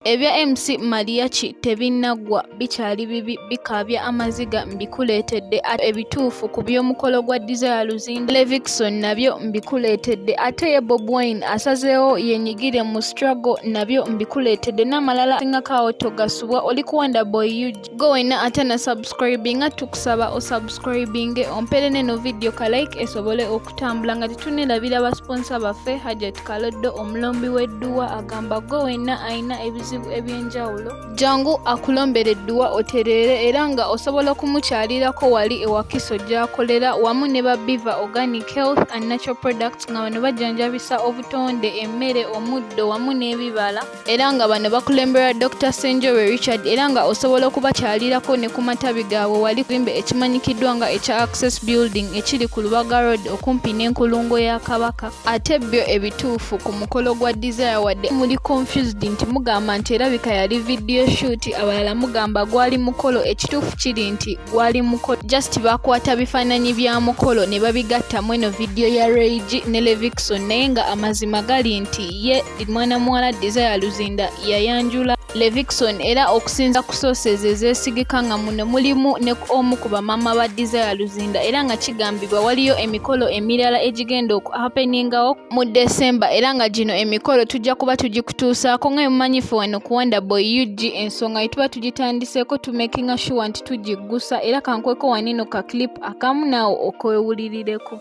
Ebya MC Mariachi tebinnaggwa bikyali bibi bikaabya amaziga mbikuleetedde ate ebituufu ku by'omukolo gwa Desire Luzinda Levixone nabyo mbikuleetedde ate ye Bob Wine asazeewo yenyigire mu struggle nabyo mbikuleetedde n'amalala asingako awo togasubwa oli ku Wonderboy UG. go wena ate na subscribinga tukusaba osubscribinge ompere neno video ka like esobole okutambula nga tetunelabira basponsa baffe hajat kaloddo omulombi w'edduwa agamba go wena alina ebizibu ebyenjawulo jangu akulombera edduwa otereere era nga osobola okumukyalirako wali ewakiso gyakolera wamu ne babiva organic health and natural products nga bano bajjanjabisa obutonde emmere omuddo wamu n'ebibala era nga bano bakulemberwa Dr. Senjobe Richard era nga osobola okubakyalirako ne ku matabi gaabwe wali kuzimba ekimanyikiddwa nga ekya Access Building ekiri ku Lubaga Road okumpi n'enkulungo ya Kabaka ate byo ebituufu ku mukolo gwa Desire wadde muli confused nti mugamba nti erabika yali video shoot abalala mugamba gwali mukolo ekituufu kiri nti gwali mukolo just bakwata bifaananyi bya mukolo ne babigatta mweno video ya Rayg ne Levixon naye nga amazima gali nti ye mwana muwala Desire Luzinda yayanjula Levixon era okusinza ku sources ezeesigika nga muno mulimu ne omu ku bamaama ba Desire Luzinda era nga kigambibwa waliyo emikolo emirala egigenda okuhapeningawo mu December era nga gino emikolo tujja kuba tugikutuusaako nga emumanyifu wano ku Wonder Boy UG ensonga ye tuba tugitandiseeko tumekinga shuwa nti tugiggusa era kankweko wanino ka clip akamu naawo okwewulirireko.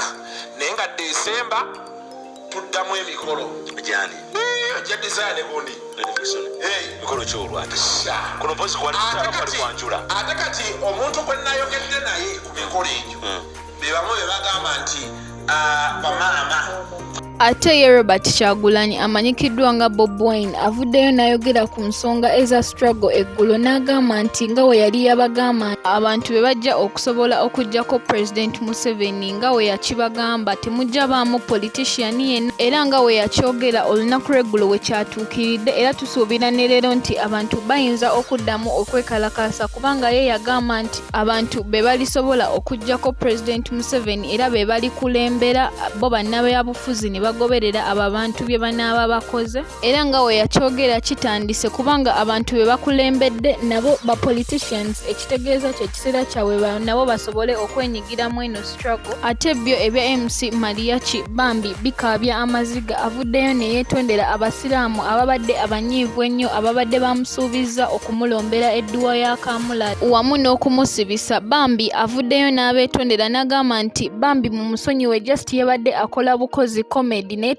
ah, naye nga desemba tuddamu emikolo gyani ojja desire negundi mikolo kyolwati kuno mpozi kwali kwanjula ate kati omuntu gwe nayogedde naye ku mikolo egyo hmm. bebamu bebagamba nti ah, bamaama Ate ye Robert Kyagulanyi amanyikiddwa nga Bob Wine avuddeyo n'ayogera ku nsonga eza struggle eggulo n'agamba nti nga we yali yabagamba abantu be bajja okusobola okuggyako President Museveni nga we yakibagamba temujja baamu politician yenna era nga we yakyogera olunaku lw'eggulo we kyatuukiridde era tusuubira ne leero nti abantu bayinza okuddamu okwekalakaasa kubanga ye yagamba nti abantu be balisobola okuggyako pulezidenti museveni era be balikulembera bo bannabyabufuzi ne bagoberera abo abantu bye banaaba bakoze era nga we yakyogera kitandise kubanga abantu be bakulembedde nabo ba politicians ekitegeeza kye kiseera kyabwe nabo basobole okwenyigira mu eno ate byo ebya mc mariachi bambi bikaabya amaziga avuddeyo ne yeetondera abasiraamu ababadde abanyiivu ennyo ababadde bamusuubizza okumulombera edduwa ya kamula wamu n'okumusibisa bambi avuddeyo n'abeetondera n'agamba nti bambi mu musonyiwe just yabadde akola bukozi comedy naye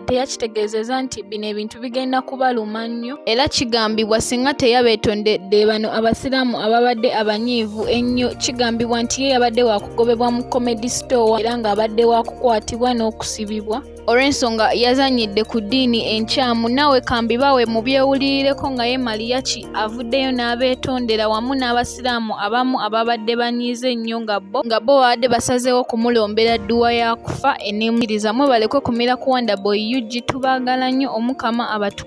teyakitegeezeza nti bino ebintu bigenda kubaluma nnyo Era kigambibwa singa teyabeetondedde bano Abasiraamu ababadde abanyiivu ennyo kigambibwa nti ye yabadde waakugobebwa mu Comedy Store era ng'abadde waakukwatibwa n'okusibibwa olw'ensonga yazannyidde ku ddiini enkyamu naawe kambibawe mu byewulirireko nga ye Maliyaki avuddeyo n'abeetondera wamu n'Abasiraamu abamu ababadde banyiize ennyo nga bo nga bo babadde basazeewo kumulombera dduwa ya kufa eneemukiriza mwebalekwe kumira ku Wonderboy UG tubaagala nnyo Omukama abatu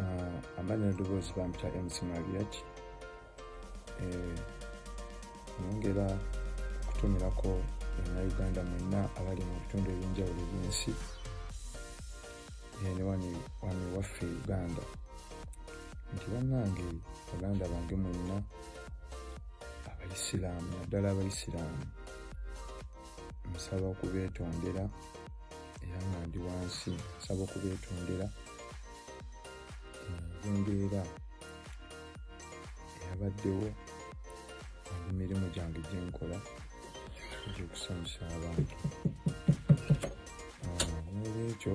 ah, amanya edoboozi bamuta mc mariach eh, nyongera okutumirako banauganda mwenna abali mu bitundu ebyenjawulo ebyensi eh, ne wani waffe uganda nti bannange baganda bange mwenna abaisiraamu naddala abaisiraamu nsaba okubeetondera era nga ndi wansi nsaba okubeetondera embeera eyabaddewo mu mirimu gyange gye nkola egyokusanyusa abantu n'olwekyo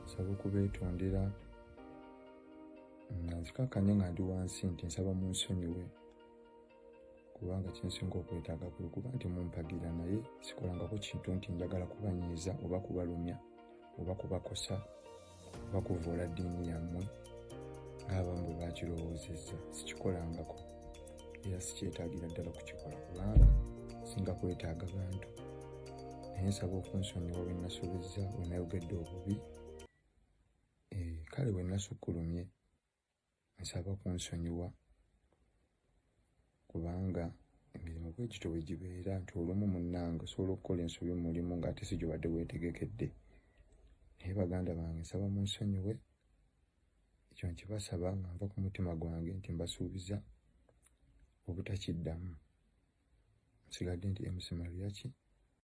nsaba okubeetondera nga nzikakkanye nga ndi wansi nti nsaba mu nsonyiwe kubanga kyensinga okwetaaga kwe kuba nti mumpagira naye sikolangako kintu nti njagala kubanyiiza oba kubalumya oba kubakosa oba kuvoola ddiini yammwe ng'abamu bwe bakirowoozezza sikikolangako era sikyetaagira ddala kukikola kubanga singa kwetaaga bantu naye nsaba okunsonyiwa bwe nnasobezza bwe nayogedde obubi eh, kale bwe nasukkulumye nsaba kunsonyiwa kubanga emirimu bwe gityo bwe gibeera nti olumu munnange osobola okukola ensobi mu mulimu ng'ate si gyobadde weetegekedde naye baganda bange nsaba munsonyiwe ekyo nkibasaba nga nva ku mutima gwange nti mbasuubiza obutakiddamu nsigadde nti mc mariaki